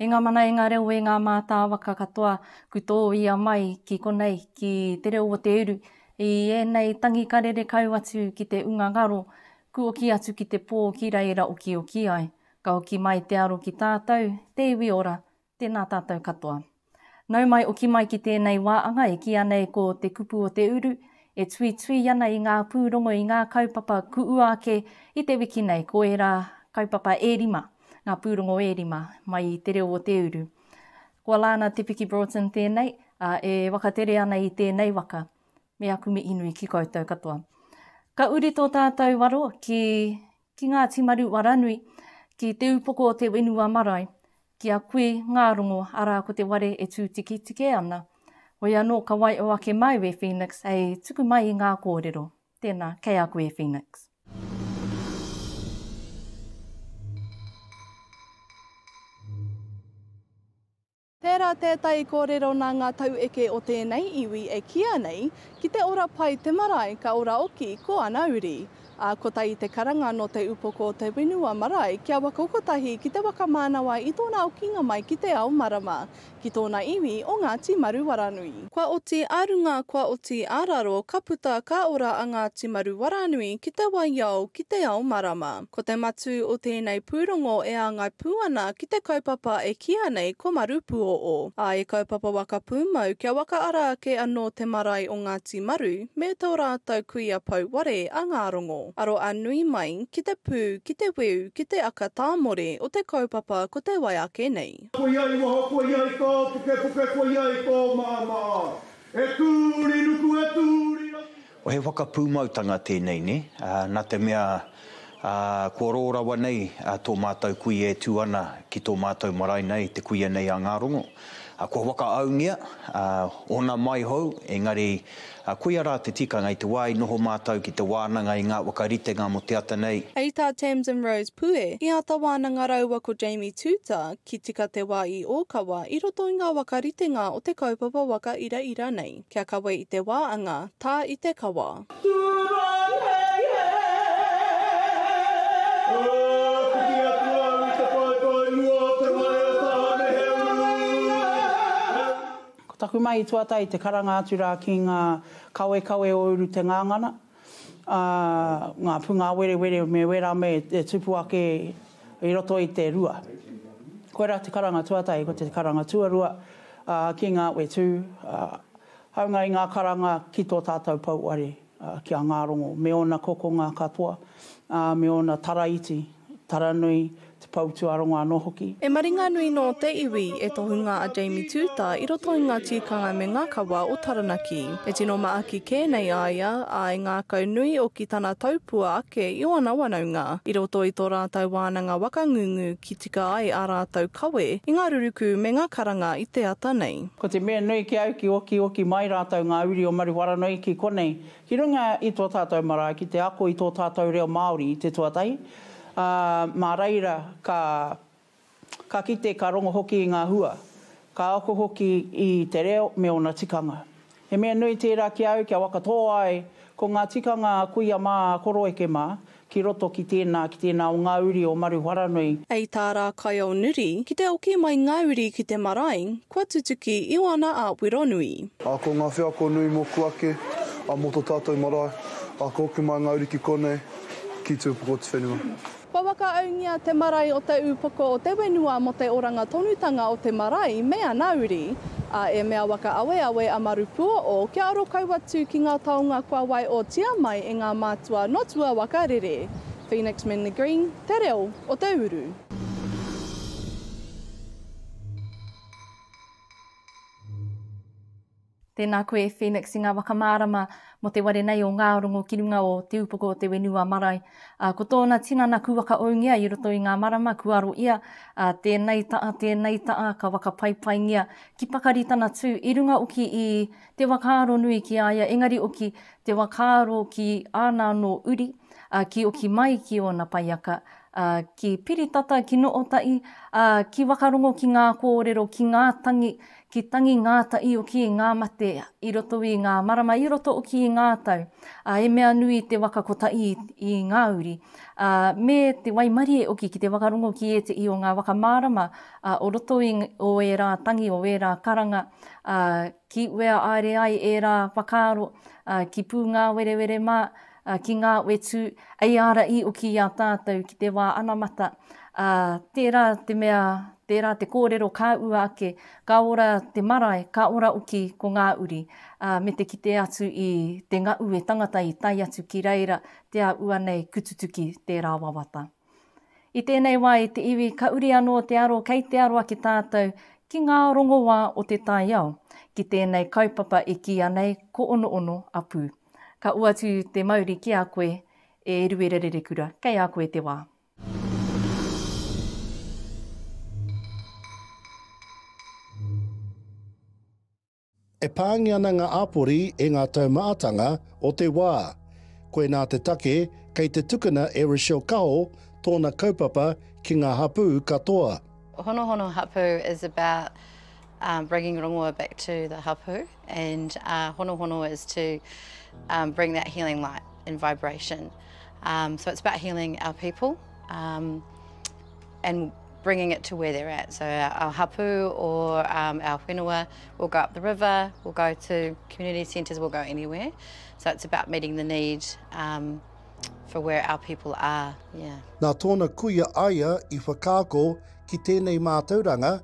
E ngā mana, e ngā reo, e ngā mātāwaka katoa, ku tō ia mai ki konei, ki te reo o te uru. I ēnei tangi ka rere kau atu ki te unga ngaro, ku oki atu ki te pō ki reira okioki ai. Ka hoki mai te aro ki tātou, te iwi ora, Tēnā tātou katoa. Nau mai o ki mai ki tēnei wā anga e kīa nei ko Te Kupu o te Uru, e tuitui ana i ngā pūrongo i ngā kaupapa kuua ake i te wiki nei, ko ērā kaupapa e rima, ngā pūrongo e rima mai i Te Reo o te Uru. Ko Alana Te Piki Broughton tēnei, ā, e wakatere ana i tēnei waka. Me aku mihi nui ki koutou katoa. Ka uri tō tātou waro ki Ki Ngāti Maru Waranui, ki Te Upoko o te Whenua Marae, ki a koe ngā rongo, arā ko te ware e tūtiketike ana. Hoi anō ka waio ake māu e Phoenix hei tuku mai i ngā kōrero. Tēnā, kei a koe Phoenix. Tērā tētahi kōrero nā ngā taueke o tēnei iwi e kīa nei, Ki te ora pai te marae ka ora oki ko ana uri. Ā, kotahi te karanga nō te upoko o te whenua marae kia waka kotahi ki te waka mānawa i tōna okinga mai ki te ao marama, ki tōna iwi o Ngāti Maruwaranui. Kua oti ā runga, kua oti ā raro, ka puta ka ora a Ngāti Maruwaranui ki te waiao, ki te ao marama. Ko te matū o tēnei pūrongo e āngai pū ana ki te kaupapa e kīia nei ko Marūpūōō, ā, e kaupapa waka pūmau kia wakaara ake anō te marae o Ngāti Maru me tō rātou kuia pou ware a Ngārongo. Aro a nui mai ki te pū, ki te weu, ki te aka tāmore o te kaupapa ko te wai ake nei. Koia i waho, koia i tō pukepuke, koia i tō maamaā. E tū uri nuku, e tū uri rangi. Ko he whakapūmautanga tēnei, nē? Nā te mea, kua rō rawa nei tō mātou kui e tū ana ki tō mātou marae nei, te kuia nei a Ngārongo. Kua whakaaungia, ōna mai hou, engari koia rā te tikanga i te wā i noho mātou ki te wānanga i ngā whakaritenga mō te ata nei. Hei tā Tamsin Rose Pue, i āta wānanga rāua ko Jamie Tuuta ki Tika Te Wā i Ōkawa i roto i ngā whakaritenga o te kaupapa waka iraira nei. Kia kawe i te wāanga, tā i te kawa. Tūrou hei hē! Whiti atu au i te paepae mua o te whare o Tāne he uru! Ko taku mahi tuatahi te karanga atu rā ki ngā kawekawe o Urutengangana. ā, ngā pūngāwerewere me wērā me te tupu ake i roto i te rua. Koirā te karanga tuatahi, ko te karanga tuarua, ā, ki ngā whetū, ā, hāunga i ngā karanga ki tō tātou pouware, ā, ki a Ngārongo, me ōna kokonga katoa, ā, me ōna taraiti. Taranui, Te Pou-tū-ā-rongo anō hoki. E Maringanui nō te iwi, e tohunga a Jamie Tūta i roto i ngā tīkanga me ngā kawa o Taranaki. E tino maaki kē nei a ia, ā, e ngākau nui oki tana taupua ake i ōna wanaunga, i roto i tō rātou wānanga waka ngungu ki tika ai ā rātou kawe i ngā rurukū me ngā karanga i te ata nei. Ko te mea nui ki au ki okioki mai rātou ngā uri o Maruwharanoiki konei Ki runga i tō tātou marae ki te ako i tō tātou reo Māori i te tuatahi, ā, mā reira ka, ka kite, ka rongo hoki i ngā hua, ka ako hoki i te reo me ōna tikanga. He mea nui tērā ki a au kia whakatō ai ko ngā tikanga a kuia mā, a koroeke mā, Ki roto ki tēnā, ki tēnā o ngā uri o Maruharanui. Hei tā Rākaiaonuri, ki te oki mai ngā uri ki te marae, kua tutuki Ioana a Wironui. A ko ngā wheako nui moku ake, a mo to tatou marae, a ko oki mai ngā uri ki konei, ki tu upoko tu whenua. Kua whakaaungia te marae o te upoko o te wenua mo te oranga tonutanga o te marae me ana uri. A e mea waka aweawe a Marupuoʻo, kia aro kau atu ki ngā taonga kua waeotia mai e ngā mātua nō tua waka rere. Phoenix Manly Green, Te Reo o te Uru. Tēnā koe Phoenix i ngā waka mārama mō te ware nei o Ngārongo ki runga o Te Upoko o te Whenua Marae. Ā, ko tōna tinana kua whakaūngia i roto i ngā marama, kua aro ia, ā, tēnei taʻa, tēnei taʻa, ka whakapaipaingia ki pakari tana tū, i runga oki i te whakaaro nui ki a ia, engari oki te whakaaro ki āna anō uri, ā, ki oki mai ki ōna paiaka, ā, ki Piritata, ki Nootaʻi, ā, ki Wakarongo, ki ngā kōrero, ki ngā tangi, Ki tangi ngā taio ki ngā mate i roto i ngā marama, i roto oki i ngā tau, a, e mea nui te waka kotahi i ngā uri, a, me te waimarie oki ki te whakarongo ki etihi o ngā waka mārama, a, o roto i o ērā tangi, o ērā karanga, a, ki wea aere ai ērā whakaaro, a, ki pūngāwerewere mā, Ā, ki ngā whetū, ei ara i oki i a tātou ki te wā anamata, ā, tērā te mea, tērā te kōrero ka ua ake, ka ora te marae, ka ora oki ko ngā uri, ā, me te kite atu i te ngaʻu e tangata i tae atu ki reira, te a ua nei kututuki tērā wawata. I tēnei wā i te iwi ka uri anō te aro kei te aro ake tātou ki ngā rongoā o te taiao, ki tēnei kaupapa e kīia nei ko Onoono a Pū. Ka uatu te mauri ki a koe, e Eruera Rerekura, kei a koe te wā. E pāngi ana ngā āpori e ngā taumahatanga o te wā. Koinā te take kei te tukuna e Rochelle Kaho tōna kaupapa ki ngā hapū katoa. Honohono Hapu is about bringing rongoa back to the hapu and honohono is to bring that healing light and vibration so it's about healing our people and bringing it to where they're at so our hapu or our whenua will go up the river, will go to community centres, will go anywhere so it's about meeting the need for where our people are. Nā tōna kuia aia i whakaako ki tēnei mātauranga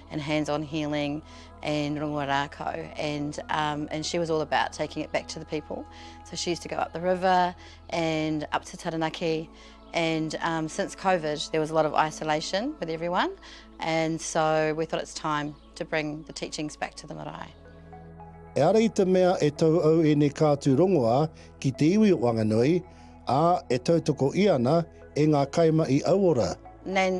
and hands on healing and rongoa rākau and um, and she was all about taking it back to the people so she used to go up the river and up to Taranaki and um, since COVID there was a lot of isolation with everyone and so we thought it's time to bring the teachings back to the marae. E ara i te mea e tau au e ne kātu rongoā ki te iwi o Wanganui, ā, e tautoko i ana e ngā kaima i auora. Nan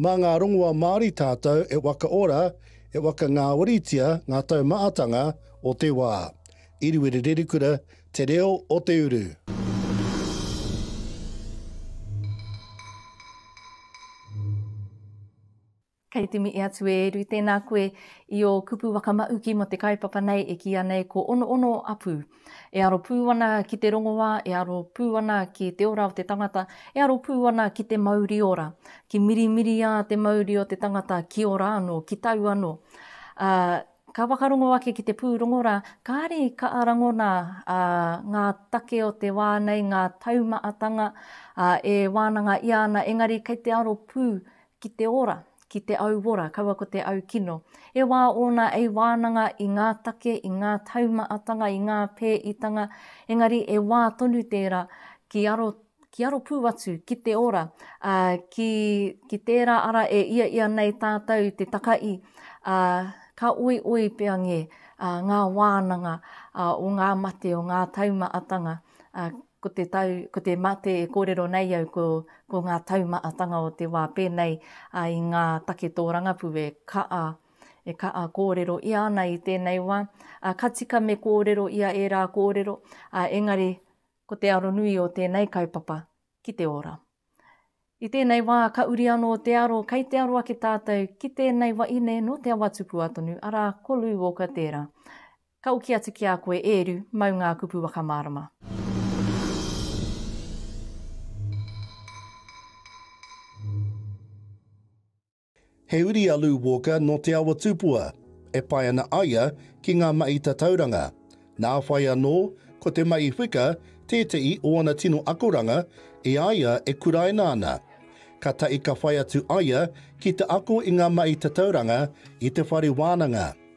Mā ngā rongoa Māori tātou e wakaora, e wakangāwaritia ngā taumahatanga o te wā. Iriwiri Rerikura, Te Reo o te Uru. Kei te mihi atu e Eru. Tēnā koe i ō kupu waka mahuki mō te kaupapa nei e kīia nei ko Onoono Apuu. E aro pū ana ki te rongoā, e aro pū ana ki te ora o te tangata, e aro pū ana ki te mauri ora. Ki mirimiriā te mauri o te tangata ki ora anō, ki tau anō. Ā, ka whakarongo ake ki te pūrongo rā, kāre i kaʻa rangona ā, ngā take o te wā nei, ngā taumaʻatanga, ā, e wānanga ʻia ana, engari kei te aro pū Ki te ora, ki te auora, kaua ko te au kino. E wā ōna ei wānanga i ngā take, i ngā taumaatanga, i ngā pēitanga, engari e wā tonu tērā ki aro, ki aro pū atu ki te ora, ā, ki, ki tērā ara e ia ia nei tātou te takaī, ā, ka oioi pea ngē, ā, ngā wānanga, ā, o ngā mate, o ngā taumaatanga, ā, Ko te tau, ko te mate e kōrero nei au ko, ko ngā taumaatanga o te wā pēnei a i ngā take tōrangapū e kaa, e kaa kōrero ia ana i tēnei wā, a ka tika me kōrero ia ērā kōrero, a engari ko te aronui o tēnei kaupapa ki te ora. I tēnei wā ka uri anō te aro, kei te aro ake tātou ki tēnei waine nō Te Awatupua tonu, arā, ko Lou Walker tērā. Ka oki atu ki a koe Eeru, mau ngā kupu whakamārama. He uri a Lou Walker nō Te Awa Tupua, e pae ana aia ki ngā mahi tatauranga. Nā whai anō, ko te mahi whika tētehi o ana tino akoranga e a ia e kuraina ana. Ka tahi ka whai atu aia ki te ako i ngā mahi tatauranga i te whare wānanga.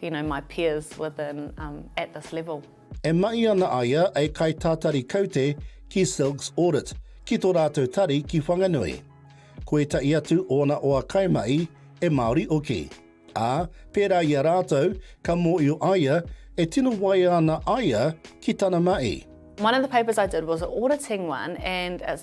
you know, my peers within um, at this level. E mahi ana a ia e kai tātari kaute ki Silks Audit, ki tō rātou tari ki Whanganui. Ko etahi atu ōna oa kaimahi e Māori hoki. Ā, pērā i a rātou, ka mōhio a ia e tino waia ana a ia ki tana mahi. One of the papers I did was an auditing one and it's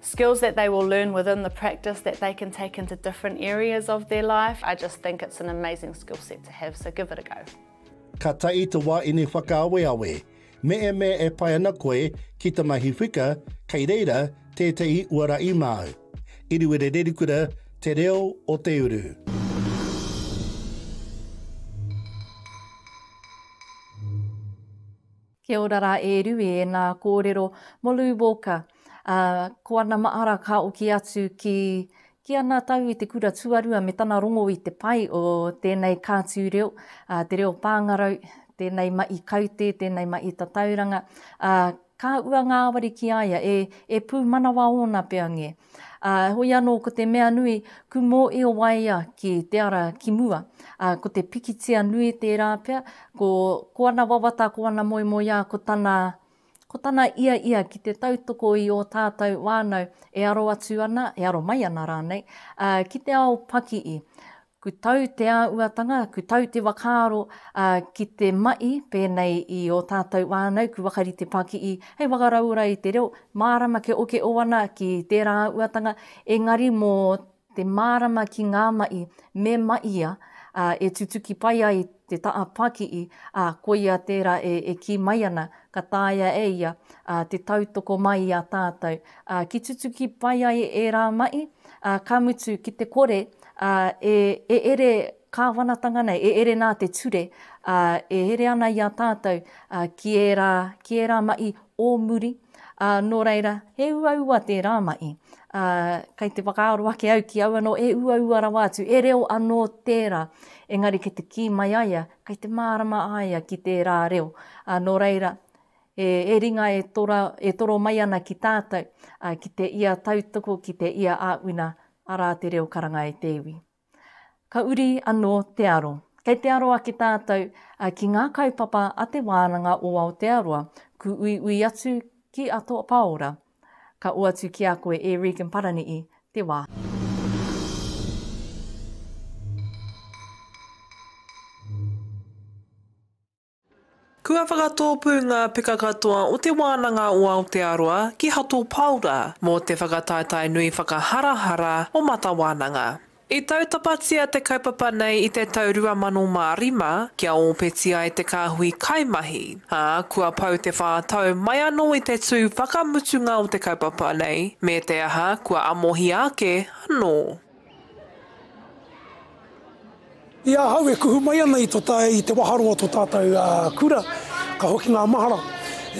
skills that they will learn within the practice that they can take into different areas of their life. I just think it's an amazing skill set to have, so give it a go. Ka tahi te wā ini whakaaweawe. Me e mea e pai ana koe ki te mahi whika, kei reira tētehi uara i māu. Iriwere Rerikura, Te Reo o Te Uru. Kia ora ra e Rui e na korero mo Lou Walker a ko ana maara ka oki atu ki ki ana tau i te kura tuarua me tana rongo i te pai o tenei kaatu reo a te reo pangarau tenei mahi kaute tenei mahi tatauranga a ka ua ngaawari ki a ia e e pumanawa ona pea nge. Ā, heoi anō ko te mea nui, kumō i o waea ki te ara ki mua. Ā, ko te pikitia nui tērā pea, ko, ko ana wawata, ko ana moemoeā, ko tana, ko tana ia ia ki te tautoko i ō tātou wānau e aro atu ana, e aro mai ana rānei, ā, ki te ao pakii. Ku tau te āuatanga, ku tau te whakaaro ki te mahi pēnei i ō tātou whānau, ku whakarite pakii hei whakarauora i te reo, mārama kia okeo ana ki tērā āuatanga, engari mō te mārama ki ngā mahi me mahia e tutuki pai ai te taha pakii, ā, koia tērā e kī mai ana, ka taea e ia te tautoko mai i a tātou ki tutuki pai ai ērā mahi, ka mutu ki te kore Ā, e, e ere, Kāwanatanga nei, e ere nā te ture, ā, e here ana i a tātou, ā, ki ērā, ki ērā maʻi ō muri, ā, nō reira, he uaua tērā maʻi. Ā, kei te whakaaro ake au ki au anō, e uaua rawa atu, e reo anō tērā, engari kei te kī mai a ia, kei te mārama a ia ki tērā reo. Ā, nō reira, he, he ringa e tora, e toro mai ana ki tātou, ā, ki te ia tautoko, ki te ia āwina Arā te reo karanga e te iwi. Ka uri anō te aro. Kei te aro ake tātou ki ngā kaupapa a Te Wānanga o Aotearoa, kūuiui atu ki a Toa Pāora. Ka oatu ki a koe e Regan Parani'i te wā. Kua whakatōpū ngā peka katoa o Te Wānanga o Aotearoa ki Hato Paora mō te whakataetae nui whakaharahara o Mata Wānanga. I tautapatia te kaupapa nei i te tau 2005 kia ōpeti ai te kāhui kaimahi, ā, kua pau te whā tau mai anō i te tū whakamutunga o te kaupapa nei, me te aha, kua amohia ake anō. I ahau e kuhu mai ana i to ta, i te waharo o to tatou kura, ka hoki nga mahara,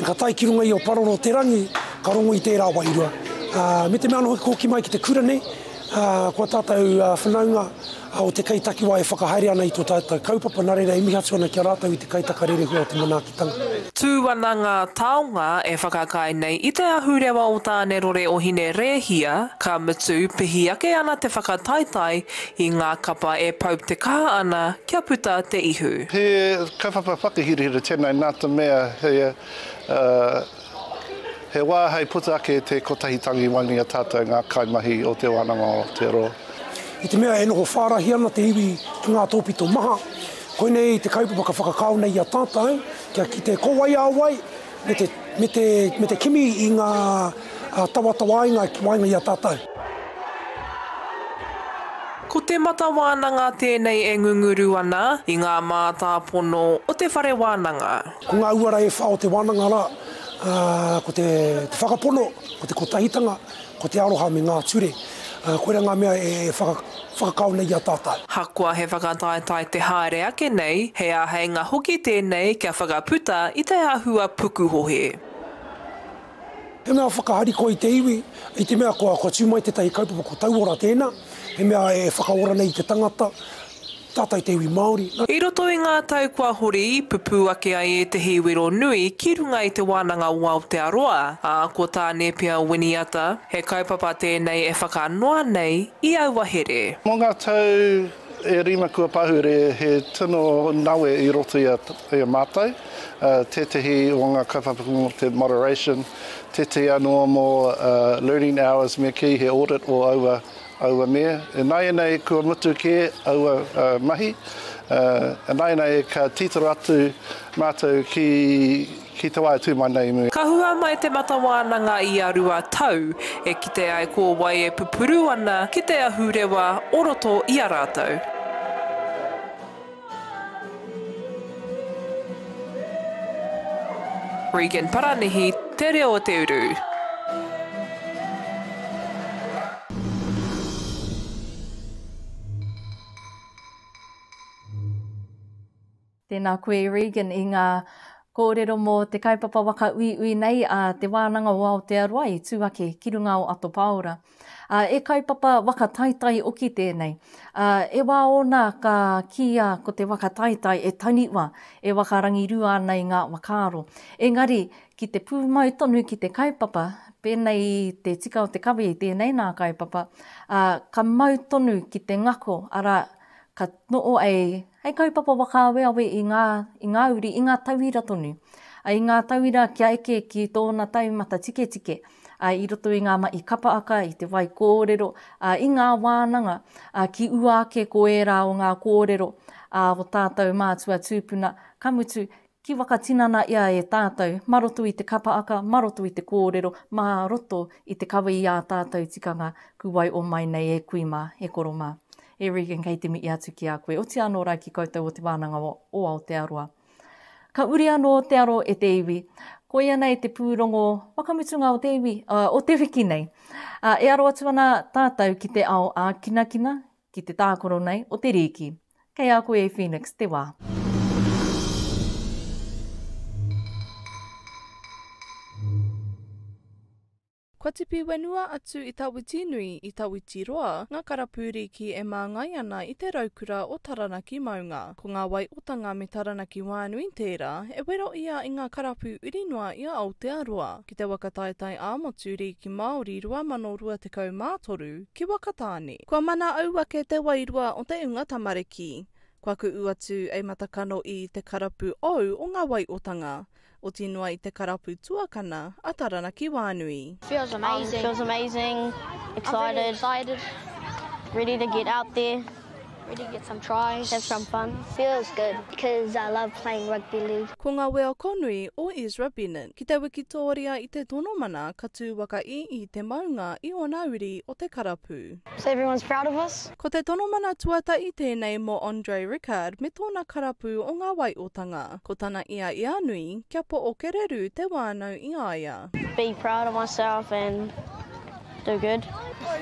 ka tae ki runga i o Paroro te rangi, ka rongo i tera wairua. Me te mea ano hoki ko ki mai ki te kura nei, ko a tatou whanaunga o te kei takiwa e whakahaere ana i to tatou kaupapa, na reira e mihi atu ana ki a ratou i te kai taka rerehua o te manaaki. Tau. Tū ana ngā taonga e whakaae nei i te ahurewa o Tānerore o Hine Rēhia, ka mutu, pihi ake ana te whakataetae i ngā kapa e pau te kaha ana kia puta te ihu. He kaupapa whakahirahira tēnei nā te mea he He wā hei puta ake i te kotahi tangi wani a tātou ngā kaimahi o Te Wānanga o Aotearoa. I te mea e noho whārahi ana te iwi ki ngā tōpito maha, koinei te kaupapa ka whakakao nei i a tātou kia kite ko wai a wai me te kimi i ngā tawatawainga ki waenga i a tātou. Ko te mata wānanga tēnei e ngunguru ana i ngā mātāpono o te whare wānanga. Ko ngā uara e whā o te wānanga rā, ko te whakapono, ko te kotahitanga, ko te aroha me ngā ture. Koirā ngā mea e whakakao nei i a tātau. Hakoa he whakataetae te haere ake nei, he āheinga hoki tēnei kia whakaputa i te āhua pukuhohe. He mea whakaharikoa i te iwi, i te mea kua, kua tū mai tētahi kaupapa, ko Tauora tēnā, he mea e whakaora nei i te tangata, tata i te iwi Māori. I roto i ngā tau kua hori, pupū ake ai ētehi wero nui ki runga i te wānanga o Aotearoa, ā, ko tā Nēpia Winiata, he kaupapa tēnei e whakanoa nei i aua here. Mō ngā tau e rima kua pahure he tino nawe i roto i a mātou. tētehi o ngā kaupapa mō te moderation, tētehi anō mō learning hours me kī he audit o aua, aua me. Ināianei kua mutu kē aua mahi, ināianei ka tītaro atu mātou ki, ki te wā e tū mai nei i mua. Ka hua mai te mata wānanga i a rua tau, e kite ai ko wai e pupuru ana ki te ahurewa o roto i a rātou. Regan Paranihi, Te Reo o te Uru. Tēnā koe Regan i ngā kōrero mō te kaupapa waka uiui nei a Te Wānanga o Aotearoa i tū ake ki runga o Ato Pāora. Ā, e kaupapa waka taitai oki tēnei. Ā, e wā ōna ka kīia ko te waka taitai e taniwa, e waka rangirua ana i ngā wakaaro. Engari, ki te pūmau tonu ki te kaupapa, pēnei i te tika o te kawe i tēnei nā kaupapa, ā, ka mau tonu ki te ngako, arā, ka noho ai hei kaupapa whakaaweawe i ngā, i ngā uri, i ngā tauira tonu. Ā, i ngā tauira kia eke ki tōna taumata tiketike, ā, i roto i ngā mahi kapaaka, i te wai kōrero, ā, i ngā wānanga, ā, ki ua ake ko ērā o ngā kōrero, ā, o tātou mātua tūpuna, ka mutu, ki whakatinana ia e tātou, mā roto i te kapaaka, mā roto i te kōrero, mā roto i te kawe i ā tātou tikanga, ku wai o mai nei e kui mā, e koro mā. E Regan, kei te mihi atu ki a koe. Otiia anō rā ki koutou o Te Wānanga o Aotearoa. Ka uri anō te aro e te iwi. Koia nei te pūrongo whakamutunga o te iwi, uh, o te wiki nei. Uh, e aro atu ana tātou ki te ao ākinakina, ki te tākoro nei o te rīki. Kei a koe e Phoenix te wā. Kua tipi whenua atu i Tawitinui, i Tawitiroa, ngā karapu rīki e māngai ana i te raukura o Taranaki maunga. Ko ngā wai o Tanga me Taranaki wānui tērā e wero ia i ngā karapu uri noa i a Aotearoa, ki te waka taetae ā-motu rīki Māori 2023, ki Wakatāne. Kua mana au ake te wairua o te unga tamariki. Kua kuʻu atu ei matakano i te karapu ou o ngā wai o Tanga. Oti noa i te karapu tuakana a Taranaki Wānui. Feels amazing. Feels amazing, excited, excited, ready to get out there, ready to get some tries, have some fun. Feels good because I love playing rugby league. Ko nga weo konui o Ezra Bennett ki te wikitoria i te tono mana ka tu waka i i te maunga i ona uri o te karapu. So everyone's proud of us? Ko te tono mana tuatahi tēnei mō Andre Rickard me tōna karapu o ngā waiotanga. Ko tana ia i a nui, kia po o kererū te wānau i a ia. Be proud of myself and do good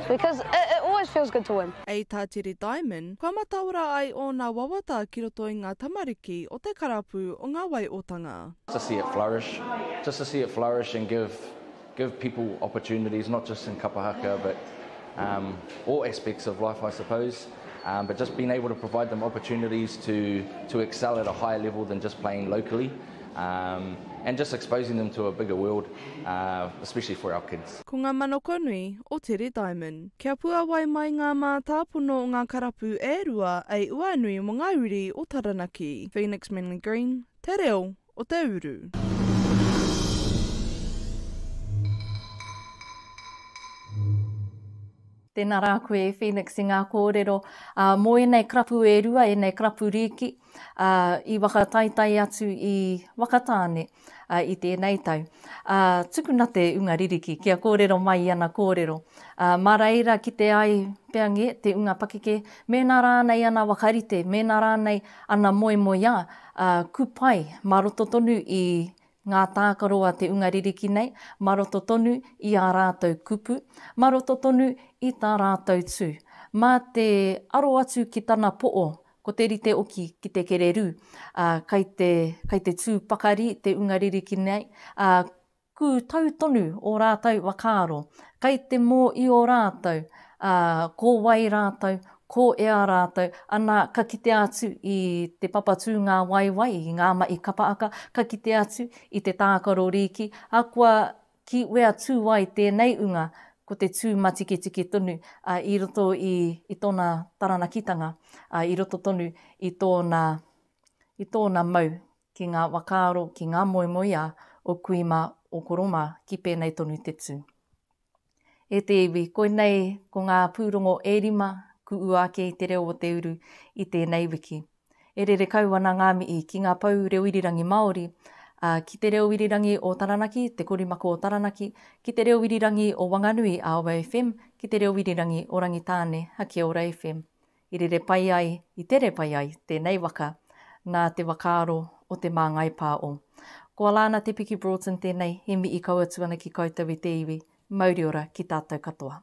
because it it always feels good to win. A tā Teri Diamond, kua mataora ai ōna wawata ki roto i ngā tamariki o te karapu o ngā waiotanga. to see it flourish, just to see it flourish and give give people opportunities not just in kapa Hakea but um, all aspects of life I suppose um, but just being able to provide them opportunities to, to excel at a higher level than just playing locally um, and just exposing them to a bigger world uh, especially for our kids. Ko ngā manoko nui o Tere Diamond. Kia puawai mai ngā mātāpono o ngā karapu e rua ei uainui mo ngā uri o Taranaki. Phoenix Manly Green, Te Reo, o te uru. Tēnā rā koe e Phoenix i ngā kōrero mō ēnei karapu e rua, ēnei karapu rīki i whakataetae atu i Whakatāne i tēnei tau. Tukuna te unga ririki kia kōrero mai i ana kōrero. Mā reira kite ai pea ngē te unga pakeke mēnā rānei ana whakarite, mēnā rānei Ana moemoeā, ā, kupai, mā roto tonu i ngā tākaro a te unga ririki nei, mā roto tonu i ā rātou kupu, mā roto tonu i tā rātou tū. Mā te aro atu ki tana poʻo, ko te rite oki ki te kererū, ā, kai te, kai te tū pakari te unga ririki nei, ā, Kū tau tonu ō rātou whakaaro, kai te mōio rātou, ā, ko wai rātou, ko ea rātou, ana ka kitea atu i te papatūngāwaiwai, i ngā mahi kapaaka, ka kitea atu i te tākaro rīki, ā, kua ki wea tū ai tēnei unga, ko te tū matiketike tonu, ā, i roto i, i tōna taranakitanga, ā, i roto tonu i tōna, i tōna mau ki ngā whakaaro, ki ngā moemoeā o kui mā, o koro mā, ki pēnei tonu te tū. E te iwi, koinei ko ngā pūrongo e rima ku ua ake i te reo o te uru i tēnei wiki. E rere kau ana ngā mihi ki ngā pou reo irirangi Māori, ā, ki te reo irirangi o Taranaki, Te Korimako o Taranaki, ki te reo irirangi o Wanganui, Aoa FM, ki te reo irirangi o Rangitāne, Hakeora FM. I rere pai ai, i tere pai ai tēnei waka nā te whakaaro o te māngai pā o. Koalā nā Te Piki Broughton tēnei, he mihi kau atu ana ki koutou i te iwi, mauri ora ki tātou katoa.